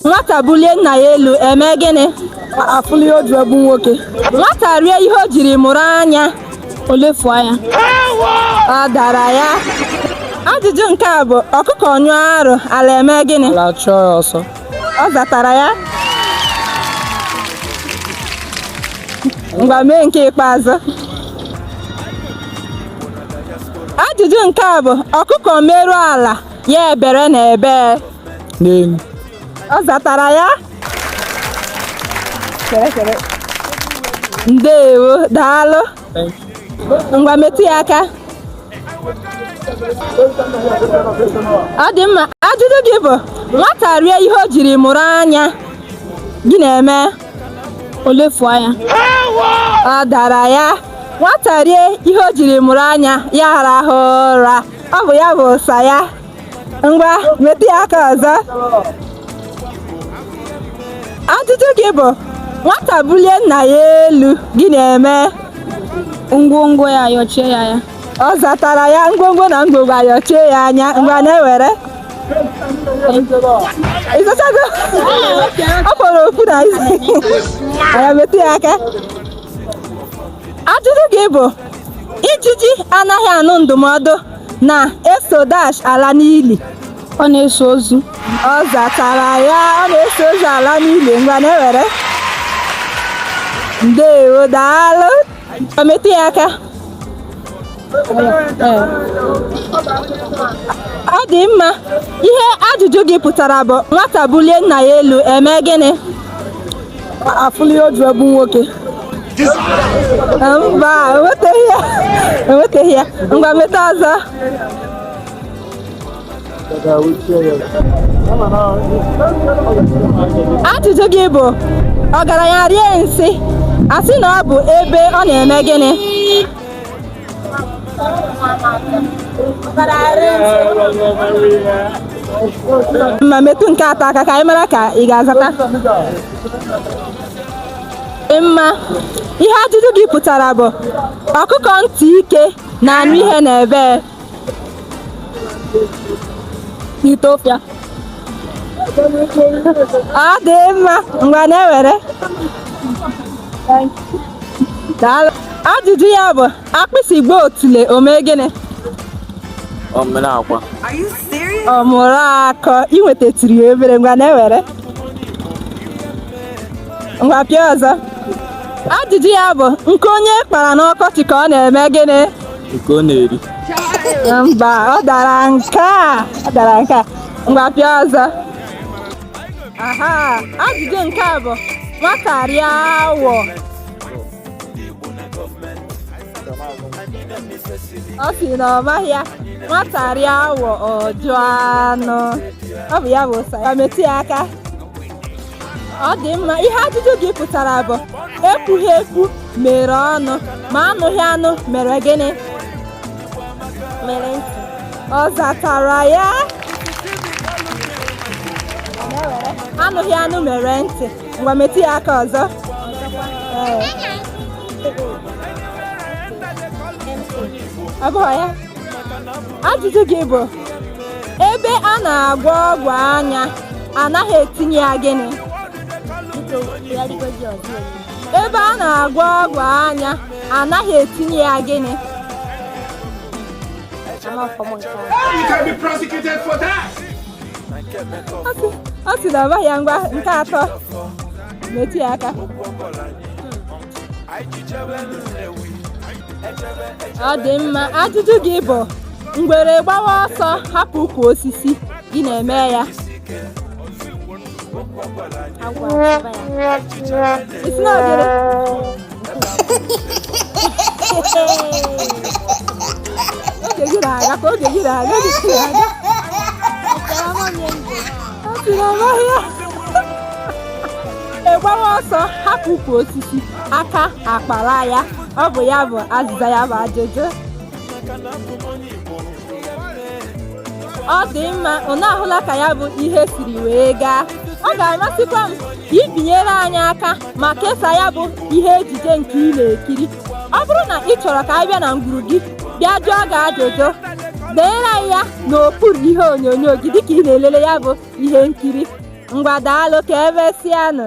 nwata bulie nna ya elu eme gịnị afụli odu egbu nwoke nwata rie ihe o jiri mụrụ anya o lefu anya ọ dara ya ajụjụ nke a bụ ọkụkọ nyụọ arụ ala eme gịnị ala chụọ ya ọsọ ọ zatara ya ngwa mee nke ikpeazụ ajụjụ nke a bụ ọkụkọ meruo ala ya ebere na ebee n'elu ọ zatara ya chere chere ndewo daalụ ngwa metụ ya aka ọ dị mma ajụjụ gị bụ nwata rie ihe o jiri mụrụ anya gịnị eme o lefu anya ọ dara ya nwata rie ihe o jiri mụrụ anya ya rahụ ụra ọ bụ ya bụ ụsa ya ngwa metụ ya aka ọzọ ajụjụ gị bụ nwata bulie nna ya elu gịnị eme ngwongwo ayọchie ya anya ọ zatara ya ngwongwo na ngwongwo ayọchie ya anya ngwa na-ewere ị zachago ọ fọrọ ofu na isi anya metụ ya aka ajụjụ gị bụ ijiji anaghị anụ ndụmọdụ na-eso dash ala n'ili ọ na-eso ozu ọ zatara ya ọ na-eso ozu ala n'ili ngwa na-ewere ndewo daalụ ọ metụ ya aka ọ dị mma ihe ajụjụ gị pụtara bụ nwata bulie nna ya elu eme gịnị afụli oju egbu nwoke mba enwetaghị ya enwetaghị ya ngwa meta ọzọ ajụjụ gị bụ ọgaranya rie nsị a sị na ọ bụ ebe ọ na-eme gịnị ngwa metụ nke atọ aka ka anyị mara ka ị ga-azata mma ihe ajụjụ gị pụtara bụ ọkụkọ ntị ike na-anụ ihe na ebee ite ofe ọ dị mma ngwa na-ewere ajụjụ ya bụ agbịsị gbaa otule o mee gịnị omenakwa ọ mụrụ akọ i nwetatiri ya obere ngwa na-ewere ngwa pịa ọzọ ajụjụ ya bụ nkụ onye kpara n'ọkọchị ka ọ na-eme gịnị nke ọ na-eri mba ọ dara nke a ọ dara nke a ngwa pịa ọzọ aha ajụjụ nke a bụ nwata rie awọ ọ sị na ọ maghị ya nwata rie awọ ọ jụọ anụ ọ bụ ya bụ ụsa ya metụ ya aka ọ dị mma ihe ajụjụ gị pụtara bụ ekwughị ekwu mere ọnụ ma anụghị anụ mere gịnị mere ntị ọ zatara ya anụghị anụ mere ntị ngwa metụ ya aka ọzọ Ee. ọ bụghị ya ajụjụ gị bụ ebe a na-agwọ ọgwụ anya anaghị etinye ya gịnị ebe a na-agwọ ọgwụ anya anaghị etinye ya gịnị ọ sị na ọ maghị ya ngwa nke atọ metụ ya aka ọ dị mma ajụjụ gị bụ ngwere gbawa ọsọ hapụ ukwu osisi gịnị emee ya ị sị na ngwere oge gị na-aga ka oge gị na-aga oge gị na-aga ọ sị na ọ maghị ya egbawa ọsọ hapụ ukwu osisi aka akpara ya ọ bụ ya bụ azịza ya bụ ajụjụ ọ dị mma unu ahụla ka ya bụ ihe siri wee gaa ọ ga-amasịkwa m ka i binyere anyị aka ma kesaa ya bụ ihe ejije nke ị na-ekiri ọ bụrụ na ị chọrọ ka a bịa na ngwuru gị bịa jụọ gị ajụjụ deere anyị ya n'okpuru ihe onyonyo gị dịka ị na-elele ya bụ ihe nkiri ngwa daalụ ka emesịanụ